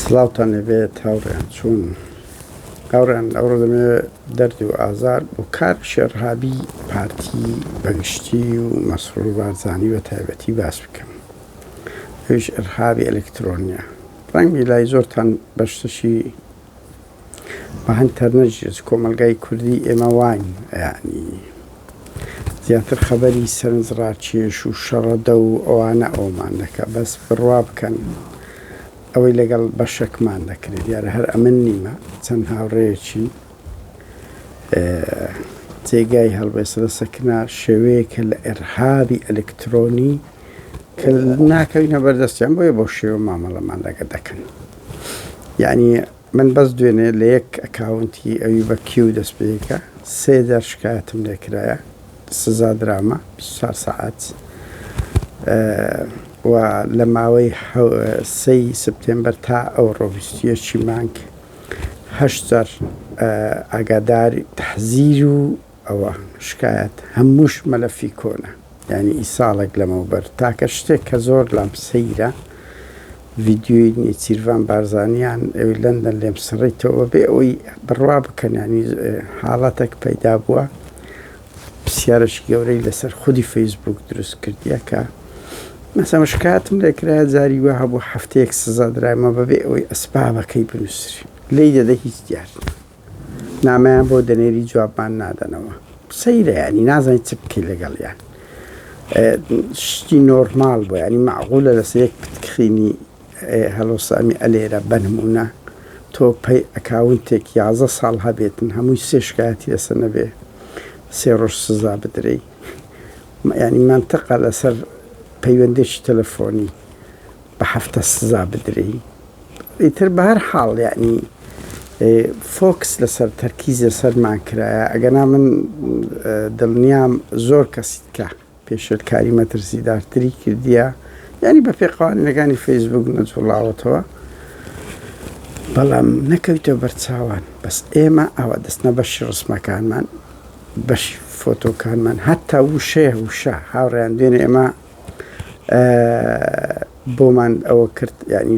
سڵاوتان لێبێت هاوڕێیان چۆن هاوڕێیان ئەوڕۆ دەمێ دەردی و ئازار بۆ کار شێرهابی پارتی بەگشتی و مەسرور بارزانانی بە تایبەتی باس بکەم ئەوش ئەرهابی ئەلکترۆنیە ڕەنگی لای زۆرتان بەشتشی بەهەند تەرنەجێت کۆمەلگای کوردی ئێمە واین یانی زیاتر خەبەری سەرنج ڕاکێش و شەڕەدە و ئەوانە ئەومان دەکە بەس بڕوا بکەن ئەوەی لەگەڵ بەشەکمان دەکرێت دیارە هەر ئەمن نیمە چەند هاوڕێیەکی جێگای هەڵبێسە لە سەکنا شێوەیەکە لە ئێرهابی ئەلکترۆنی کە ناکەوینە بەردەستیان بۆیە بۆ شێوە مامەڵەمان لەگە دەکەن. یەعنی من بەس دوێنێ لە یەک ئەکاونتی ئەوی بە کیو دەست پێیکە سێ جار شکایەتم لێ کرایە سزا درامە 24 سەعات و لە ماوەی سەی سپتێمبەر تا ئەو ڕۆڤستیەکی مانگ هەشت جار ئاگاداری تەحزیر و ئەوە شکایەت هەمووش مەلەفی کۆنە یانی ی ساڵێک لەمەوبەر تاکە شتێک کە زۆر لام سەیرە ڤیدیۆی نێچیرڤان بارزانیان ئەوی لەندەن لێم سڕیتەوە بێ ئەوی بڕوا بکەن یانی حاڵەتێک پەیدا بووە پرسیارش گەورەی لەسەر خودی فەیسبوک دروست کردیە کە مەسەمە شکاتم لێکرا جاری وە هەبوو هەفتەیەک سزا درایمە بەبێ ئەوەی ئەسبابەکەی بنووسری لی دەدە هیچ دیار نامەیان بۆ دەنێری جوابمان نادەنەوە سەیرە ینی نازانین چ بکەی لەگەڵیان شتی نۆرمال بۆ ینی معغولە لەسەر یەک پتکخینی هەڵۆسامی ئەلێرە بەنمونە تۆ پەی ئەکاونتێک یازە ساڵ هەبێتن هەمووی سێ شکایەتی لەسە نەبێ سێ ڕۆژ سزا بدرێی ینی منتەقە لەسەر پەیوەندێکی تەلەفۆنی بە هەفتە سزا بدرێی ئیتر بە هەر حاڵ یعنی فۆکس لەسەر تەرکیز لەسەرمان کرایە ئەگەنا من دڵنیام زۆر کەسیت کە پێشلکاری مەترسیدارتری کردیە یعنی بە پێقاوانەکانی فەیسبوک نەجوڵاوەتەوە بەڵام نەکەویتە بەرچاوان بەس ئێمە ئەوە دەستنە بەشی ڕسمەکانمان بەشی فۆتۆکانمان هەتا وشەیە وشە هاوڕیان دوێنێ ئێمە بۆمان ئەوە کرد یعنی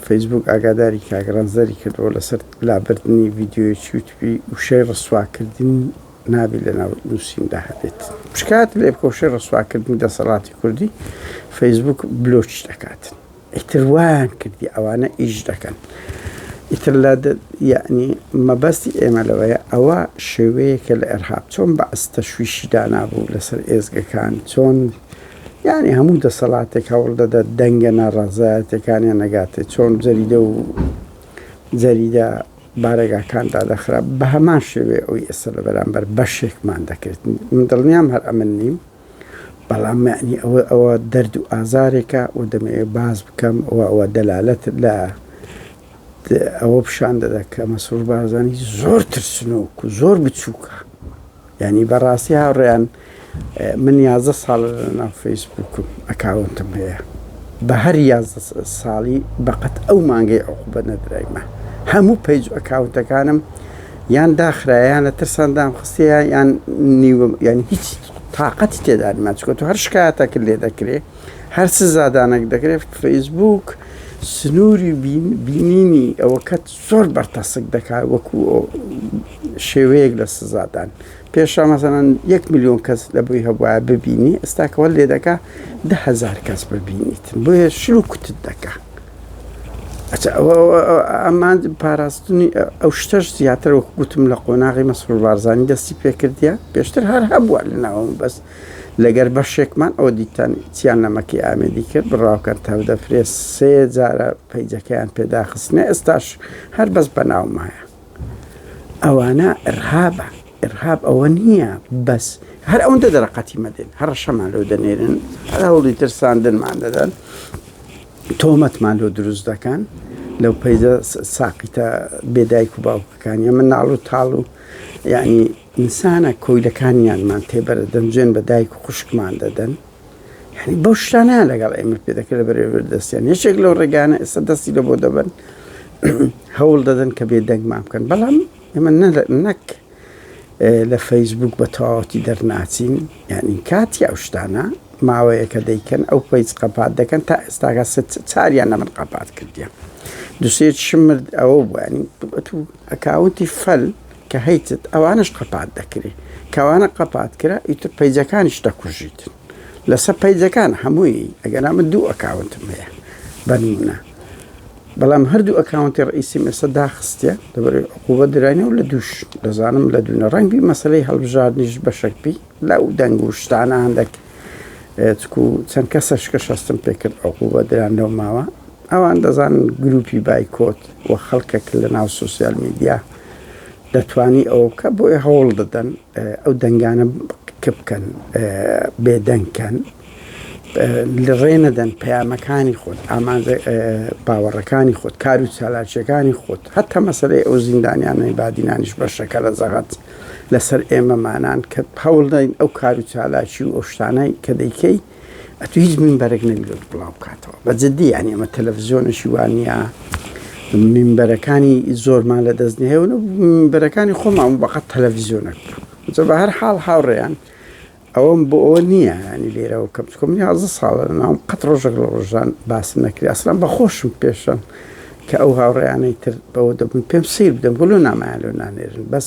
فەیسبووک ئاگاداری کاک ڕەنجدەری کردەوە لەسەر لابردنی ڤیدیۆی چوتپی وشەی ڕسواکردن نابێت لە ناو نووسیندا هەبێت شکات لێ بکە وشەی ڕسواکردنی دەسەڵاتی کوردی فەیسبووک بلۆچ دەکات. ئیتر وایان کردی ئەوانە ئیش دەکەن ئیتر لە یعنی مەبەستی ئێمە لەوەیە ئەوە شێوەیەکە لە ئێرهاب چۆن بەعس تەشویشی دانابوو لەسەر ئێزگەکان چۆن یعنی هەموو دەسەڵاتێک هەوڵ دەدە دەنگە ناڕازایەتەکانیان نەگاتێ چۆن جەریدە و جەریدە بارەگاکان دادەخرا بە هەمان شێوێ ئەوی ئێستا لە بەرامبەر بەشێکمان دەکرێت من دڵنیام هەر ئەمن نیم بەڵام معنی ئەوە ئەوە دەرد و ئازارێکە و دەمەوێت باز بکەم و ئەوە دەلالەت لە ئەوە پیشان دەدا کە مەسرور بارزانی زۆر ترسنۆک و زۆر بچووکە ینی بەڕاستی هاوڕێیان من یازە ساڵ ناو فەیسبووکم ئەکاونتم هەیە بە هەر یازە ساڵی بەقەت ئەو مانگەی ئەو بە نەدرایمە هەموو پەیج ئەکاونتەکانم یان داخرایانە ترسان دام خستەیە یان نیوە ینی هیچ تاقەتی تێدا نیە چونکە تۆ هەر شکایەتەکت لێ دەکرێ هەر سزادانەک دەکرێ فەیسبووک سنووری بینینی ئەوەکەت زۆر بەرتەسک دەکات وەکو شێوەیەک لە سزادان پێشە مەزەنەن یەک میلیۆن کەس لە بۆی هەبواە ببینی ئێستاکەوە لێ دەکا دههزار کەس ببینیت بۆیە شل و کوتت دەکات. ئەمانج پاراستنی ئەو شتەش زیاتر وەک گوتم لە قۆناغی مەسرور بارزانانی دەستی پێکردە پێشتر هەر هەبووە لە ناوم بەس لەگەر بەشێکمان ئەو دیتان چیان نەمەکی ئامێدی کرد بڕاوکەن تا دەفرێ سێ جارە پەیجەکەیان پێداخستنە ئێستاش هەر بەس بە ناومایە ئەوانە ئرهابە ئرهاب ئەوە نییە بەس هەر ئەوەندە دەرەقەتی مەدەن هەڕەشەمان لەو دەنێرن هەر هەوڵی ترساندنمان دەدەن تۆمەتمان لۆ دروست دەکەن لەو پەیزە ساقیتە بێ دایک و باوکەکانی ئەمە ناڵ و تاڵ و یعنی ئینسانە کۆیلەکانیانمان تێبەرە دەنجێن بە دایک و خوشکمان دەدەن یعنی بەو شتانیان لەگەڵ ئێمە پێ دەکرێت لە بەرێبەر دەستیان یەکێک لەو ڕێگانە ئێستا دەستی لە بۆ دەبن هەوڵ دەدەن کە بێ دەنگمان بکەن بەڵام ئێمە نەک لە فەیسبووک بە تەواوەتی دەرناچین یانی کاتی ئەو شتانە ماوەیەکە دەیکەن ئەو پەیج قەپات دەکەن تا ئێستاگە چاریان لە من قەپات کردیان دوسێت شمرد ئەوە بوانی ئەکاونتی فەل کە هەیتت ئەوانش قەپات دەکرێت کەوانە قەپات کرا ئیتر پەیجەکانیش دەکوژیتن لەسەر پەیجەکان هەمووی ئەگەنا من دوو ئەکاونتم هەیە بەنمونە بەڵام هەردوو ئەکاونتی ڕئیسیم ئێستا داخستە دەبێت عقوبە درانی و لە دوش دەزانم لە دوونە ڕەنگی مەسلەی هەڵبژاردنیش بەشک بی لەو دەنگ و شتانە هەندێک چکو چەند کەسەش کە شەستم پێکرد عقوبە دران لەو ماوە ئەوان دەزانن گروپی بایکۆت و خەڵکەک لە ناو سوسیال میدیا دەتوانی ئەوە بکە بۆیە هەوڵ دەدەن ئەو دەنگانە کپکەن بێدەنگ کەن لڕێ نەدەن پەیامەکانی خۆت ئامانجە باوەڕەکانی خۆت کار و چالاکیەکانی خۆت هەتا مەسەرەی ئەو زیندانیانەی بادینانیش بە شەکەرە زەغەت لەسەر ئێمەمانان کە هەوڵدەین ئەو کار و چالاکی و ئەو شتانەی کە دەیکەیت ئەتو هیچ منبەرێک نەبیێت بڵاو بکاتەوە بە جددی یان ئەمە تەلەڤزیۆنەشی وانە منبەرەکانی زۆرمان لە دەست نهێ و منبەرەکانی خۆمان بەقەت تەلەڤزیۆنەک جە بە هەر حاڵ هاوڕێیان ئەوەم بۆ ئەوە نییە ینی لێرەوە کەم چکم نیازە ساڵە ناوم قەت ڕۆژێک لە ڕۆژان باس نەکری ئەسلان بە خۆشم پێشم کە ئەو هاوڕێیانەی تر بەوە دەبوون پێم سیر بدەم گوڵو نامایان لەو نانێرن بەس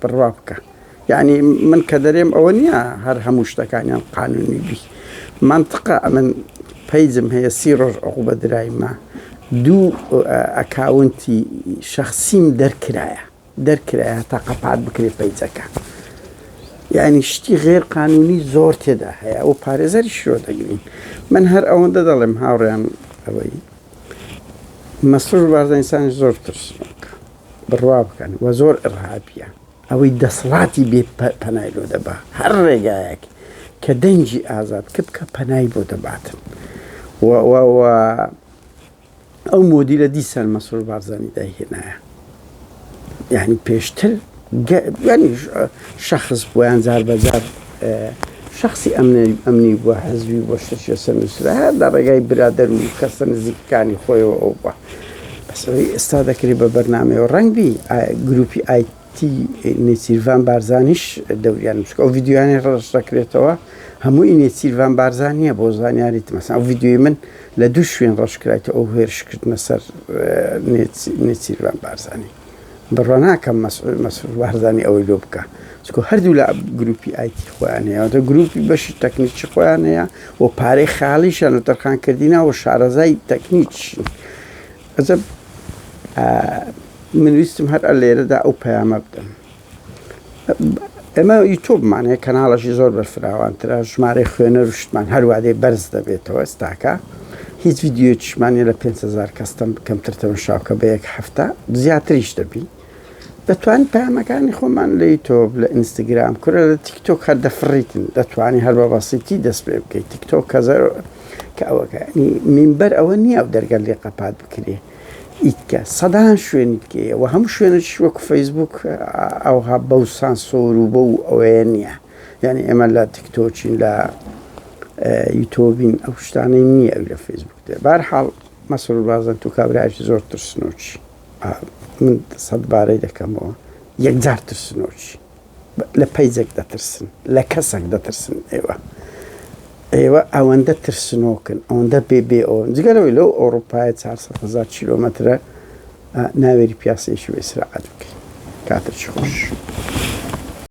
بڕوا بکە یعنی من کە دەرێم ئەوە نییە هەر هەموو شتەکانیان قانونی بی منطقە ئەمن پیجم هەیە سی ڕۆژ عقوبە درایمە دوو ئەکاونتی شخصیم دەرکرایە دەرکرایە تا قەپات بکرێ پیجەکە یعنی شتی غێر قانونی زۆر تێدا هەیە ئەو پارێزەری شرۆ دەگرین من هەر ئەوەندە دەڵێم هاوڕێیان ئەوەی مەسرور بارزانسانی زۆر ترسناکە بڕوا بکەن و زۆر ئڕهابیە ئەوەی دەسڵاتی بێ پەنای لۆ دەبا هەر ڕێگایەک کە دەنگی ئازاد کە بکە پەنای بۆ دەباتن ئەو مۆدی لە دیسان مەسرور بارزانانی داهێنایە یعنی پێشتر شخص بۆیان جار بەجار شەخسی ئەمنی بووە، حزبی بووە، شتێکی لەسەر نووسرا، هەر لە ڕێگای برادەر و کەسە نزیکەکانی خۆیەوە ئەو بووە. بەس ئەوەی ئێستا دەکرێ بە بەرنامەیەوە ڕەنگ بی گرووپی ئایتی نێچیرڤان بارزانیش دەوریانم، چونکە ئەو ڤیدیۆیانەی ڕەش دەکرێتەوە هەمووی نێچیرڤان بارزان نییە بۆ زانیاریت، مەسەڵەن ئەو ڤیدیۆی من لە دوو شوێن ڕەش کرایتەوە ئەو هێرشکردنە سەر نێچیرڤان بارزانی. بڕوا ناکەم مەسعود مەسعود بارزانی ئەوەی لۆ بکە چکۆ هەردوو لە گروپی ئایتی خۆیان هەیە دە گروپی بەشی تەکنیکی خۆیان هەیە و پارەی خاڵیشان لە تەرخان کردینەوە شارەزای تەکنیکشین ئەزە من ویستم هەر ئە لێرەدا ئەو پەیامە بدەم ئێمە یوتوبمان هەیە کەناڵەشی زۆر بەرفراوانترە ژمارەی خوێنەر و شتمان هەروادێ بەرز دەبێتەوە ئێستاکە هیچ یددیوێکیشمانە لە 500 کەستم کەمتر تەمەشاوکە بە یەک هەفتە زیاتریش دەبی دەتوان پامەکانی خۆمان لە یوتۆب لە ئینستاگرام کورە لە تیکتۆک هەر دەفڕیتن دەتوانانی هەر بە بەسیتی دەست پێ بکەیت تیکتۆک کەزەر کە ئەوەکانی مینبەر ئەوە نییە و دەرگەل لێ قەپات بکرێت ئیتکە سەدان شوێنی دیکەیە و هەموو شوێنەکیش وەکو فەیسبووک ئەوها بەو سانسۆر و بەو ئەوەیە نییە یعنی ئێمە لە تیکتۆچین لە یوتۆبین ئەو شتانەی نییە ئەو لە فەیسبووک دێ بارحاڵ مەسرور بازن تو کابراش زۆر ترسنۆچی من سەد بارەی دەکەمەوە یەکجار ترسنۆچی لە پەیجەک دەترسن لە کەسەک دەترسن ئێوە ئێوە ئەوەندە ترسنۆکن ئەوەندە بێ بێ ئەو جگەرەوەی لەو ئەوروپایە 400 هزار کیلۆمەترە ناوێری پیاسێکی و ئیسراعەت بکەین کاتێکی خۆش.